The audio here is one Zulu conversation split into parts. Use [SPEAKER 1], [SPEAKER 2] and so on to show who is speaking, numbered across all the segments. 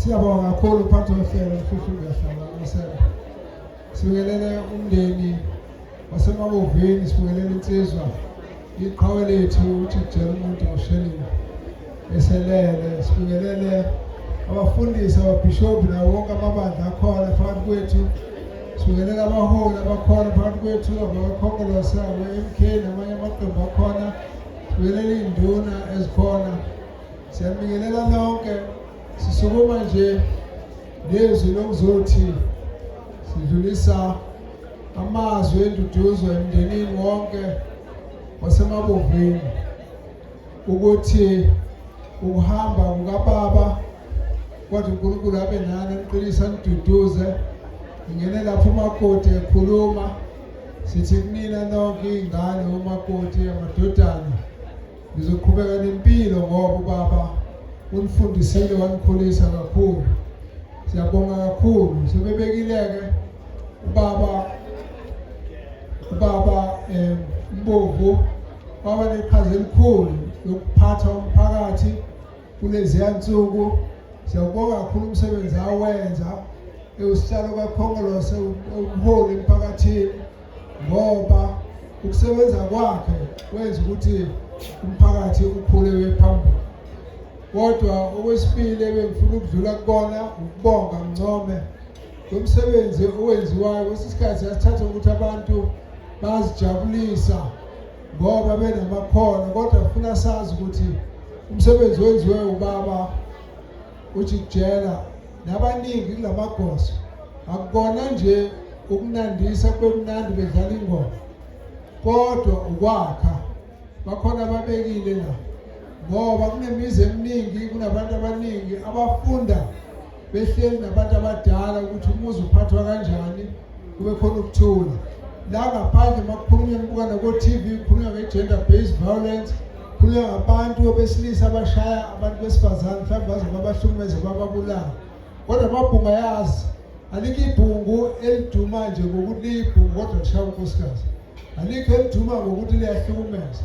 [SPEAKER 1] Siyabonga kakhulu uphathi wehlelo mfuthu uyahlala amasela. Sibingelele umndeni wasemabovini, sibingelele insizwa iqhawe lethu ukuthi kujela umuntu ngoshelile eselele. Sibingelele abafundisi ababhishobhi nawo wonke amabandla akhona phakathi kwethu. Sibingelele abaholi abakhona phakathi kwethu abakhongolose abo-MK namanye amaqembu akhona. Sibingelele iy'nduna ezikhona. Siyabingelela nonke sisukuma nje nezwi lokuzothi sidlulisa amazwi enduduzo emndenini wonke wasemabovini ukuthi ukuhamba kukababa kodwa uNkulunkulu abe nani aniqinisa niduduze ngingene lapho umakoti ekhuluma sithi kunina nonke iy'ngane umakoti amadodana Ngizoqhubeka nempilo ngoba ubaba unifundisile wanikhulisa kakhulu. Siyabonga kakhulu. Sebebekile-ke ubaba ubaba um Mbovu waba neqhaza elikhulu lokuphatha umphakathi kuleziya nsuku. Siyawubonga kakhulu umsebenzi awenza ewusihlalo kakhongolose ewumholi emphakathini. ngoba ukusebenza kwakhe kwenza ukuthi umphakathi ukhule wephambili kodwa okwesibili ebengifuna ukudlula kubona ukubonga ngcome lomsebenzi owenziwayo kwesinye isikhathi yasithatha ukuthi abantu bazijabulisa ngoba benamakhono kodwa funa sazi ukuthi umsebenzi wenziwe ubaba ujikijela nabaningi kulamagoso akukona nje ukunandisa kube mnandi bedlala ingoma kodwa ukwakha bakhona ababekile la ngoba kunemizi eminingi kunabantu abaningi abafunda behleli nabantu abadala ukuthi umuzi uphathwa kanjani kube khona ukuthula la ngaphandle uma kukhulunywa kubukana ko-tv kukhulunywa nge-gender based violence kukhulunywa ngabantu besilisa abashaya abantu besifazane mhlawumbe baze babahlukumeze bababulala kodwa amabhunga yazi alikho ibhungu eliduma nje ngokuthi liyibhungu kodwa lishaya unkosikazi alikho eliduma ngokuthi liyahlukumeza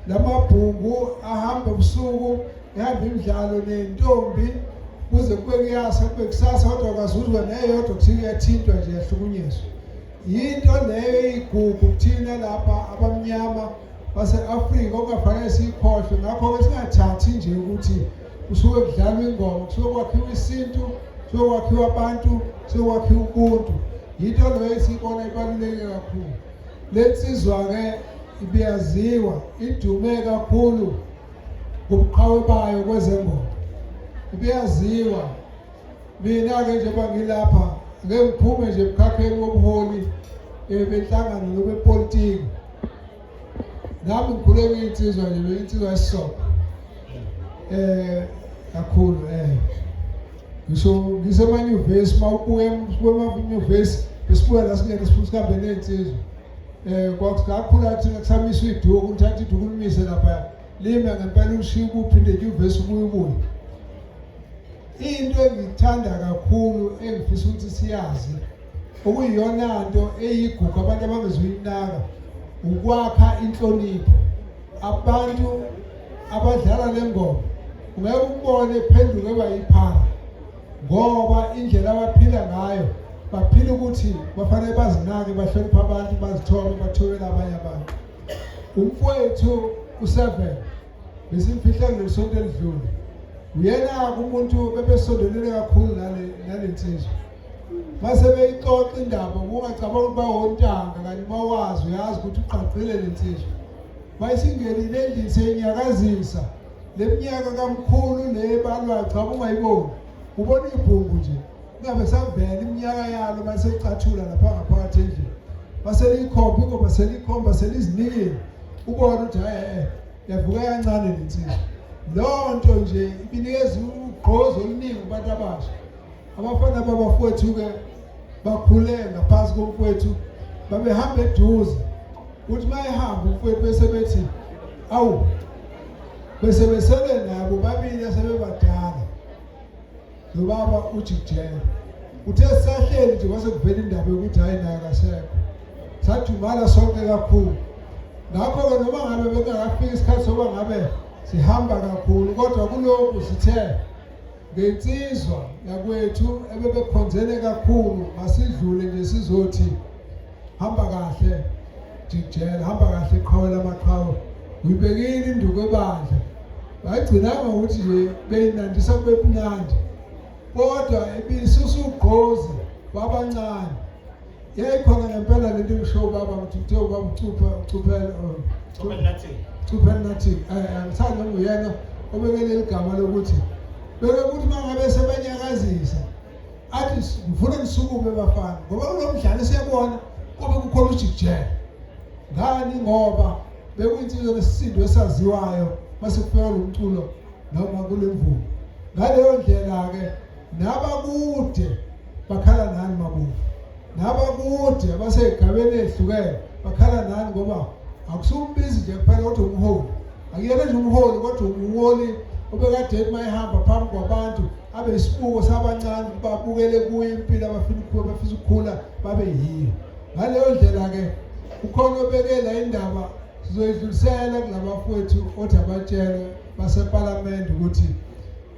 [SPEAKER 1] la mabhungu ahamba ebusuku ehamba imidlalo nentombi kuze kube kuyasa kube kusasa kodwa kwazi ukuthi wena eyodwa kuthi kuyathintwa nje yahlukunyezwa yinto leyo eyigugu kuthina lapha abamnyama base-afrika okungafanele siyikhohlwe ngakho-ke singathathi nje ukuthi kusuke kudlalwa ingoma kusuke kwakhiwa isintu kusuke kwakhiwa abantu kusuke kwakhiwa ubuntu yinto leyo esiyibona ibaluleke kakhulu le nsizwa-ke ibiyaziwa idume kakhulu ngobuqhawe bayo kwezengoma ibiyaziwa mina-ke njengoba ngilapha ngeke ngiphume nje emkhakheni wobuholi eh, benhlangano lobepolitiki nami ngikhule ngiyinsizwa nje beyinsizwa esisoko eh kakhulu eh ngisho ngisemanyuvesi mawubuye kwemanyuvesi besibuya la singene sifuna sihambe ney'nsizwa um eh, kwakukhula thina kusamiswa iduku uthatha iduku limise lapha lime ngempela ulushiye ukuphi ndenyuvesi ubuye ubuye Into engiyithanda kakhulu engifisa ukuthi siyazi okuyiyona nto eyigugu abantu abangezuyinaka ukwakha inhlonipho abantu abadlala le ngoma ungeke ukubone phenduke bayiphara ngoba indlela abaphila ngayo baphila ukuthi bafanele bazinake bahloniphe abantu bazithole bathobele abanye abantu umfowethu useven besimfihlele ngesonto elidlule uyena umuntu bebesondelele kakhulu nale nale nsizwa mase beyixoxa indaba kungacabanga ukuthi bawontanga kanti bawazi uyazi ukuthi uqaqile le nsizwa bayisingenile endlini seyinyakazisa le minyaka kamkhulu le balwaxa ungayiboni ubona ibhungu nje kungabe savela iminyaka yalo masecathula lapha ngaphakathi endlini baseliyikhomba ingoba seliyikhomba selizinikile ubona ukuthi hayi eh, yavuka kancane le nsizwa loo nto nje ibinikeza ugqozi oluningi kubantu abasha abafana babafowethu-ke bakhule ngaphansi komfowethu babehamba eduze ukuthi uma ehamba umfowethu bese bethi awu bese besele nabo babili asebebadala lo baba uthi jele uthe sahleli nje kwase kuvela indaba yokuthi hhayi naye kasekho sadumala sonke kakhulu ngakho-ke noma ngabe bekungakafiki isikhathi sokuba ngabe sihamba kakhulu kodwa kulokhu sithe ngensizwa yakwethu ebebekhonzene kakhulu masidlule nje sizothi hamba kahle jijela hamba kahle qhawe lamaqhawe uyibekile induku ebandla bayigcinanga ukuthi nje beyinandisa kube mnandi kodwa ibisusa ugqozi babancane yayikhona ngempela lento ngisho ubaba ukuthi uthe ubaba ucupha ucuphela oh, ucuphela nathi ucuphela nathi eh, eh, ngithanda nguyena obekele igama lokuthi beke ukuthi mangabe sebenyakazisa athi ngifuna ngisukume bafana ngoba kulo mdlalo esiyabona kube kukhona ujikijela ngani ngoba bekuyinsizwa nesisindo esaziwayo mase kufika lo mculo noma kule mvumo ngaleyo ndlela-ke nabakude bakhala nani mabuvu nabakude abasey'gabeni ezihlukene bakhala nani ngoba akusumbizi nje kuphela kodwa umholi akuyena nje umholi kodwa umholi obekade uma ehamba phambi kwabantu abe isibuko sabancane babukele kuye impilo abafuna ukuba bafisa ukukhula babe yiyo ngaleyo ndlela-ke ukhona obekela indaba sizoyidlulisela kulabafowethu othi abatshele basepalamende ukuthi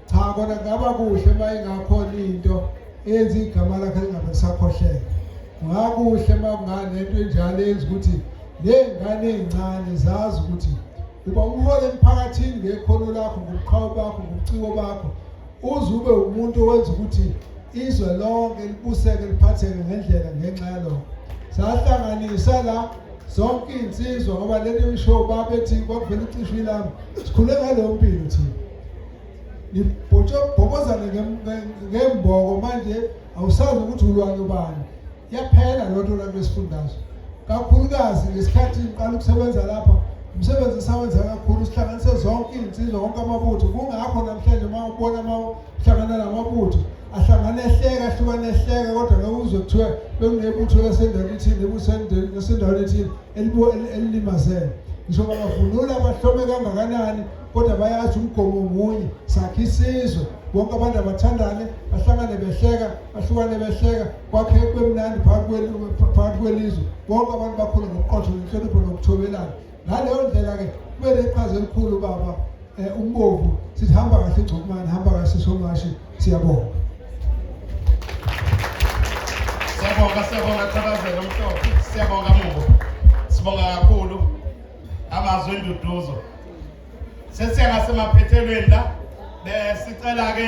[SPEAKER 1] cha kona kungaba kuhle uma ingakhona into eyenza igama lakhe lingabe lisakhohleka kungakuhle uma kunganento enjalo eyenza ukuthi ney'ngane ey'ncane zazi ukuthi uba umhole emphakathini ngekhono lakho ngobuqhawe bakho ngobuciko bakho uze ube umuntu owenza ukuthi izwe lonke libuseke liphatheke ngendlela ngenxa yalokho sahlanganisa la zonke iy'nsizwa ngoba lento emisho babethi kwakuvela icishwi lami sikhule ngaleyo mpilo thina nibhobozane ngemboko manje awusazi ukuthi ulwane ubani yaphela loo nto lanto esifundazwe kakhulukazi ngesikhathi ngiqala ukusebenza lapha umsebenzi esawenza kakhulu sihlanganise zonke iy'nsizwa konke amabutho kungakho namhlanje uma ubona uma uhlangana namabutho ahlangane ehleka ahlukane ehleka kodwa ngeke uzwe kuthiwa bekunebutho lasendaweni ethile ebusendaweni ethile elilimazele ngisho bangavunula bahlome kangakanani kodwa bayazi umgomo munye sakhe isizwe bonke abantu abathandane bahlangane behleka bahlukane behleka kwakhe kwemnandi phakathi kwelizwe bonke abantu bakhule ngokuqotho nenhlonipho nokuthobelana ngaleyo ndlela-ke kube neqhaza elikhulu baba um umbovu sithi hamba kahle ingcomane hamba kahle somashi siyabonga siyabonga siyabonga thabazela
[SPEAKER 2] umhlobo siyabonga mubo sibonga kakhulu amazwi enduduzo sesiya ngasemaphethelweni la besicela-ke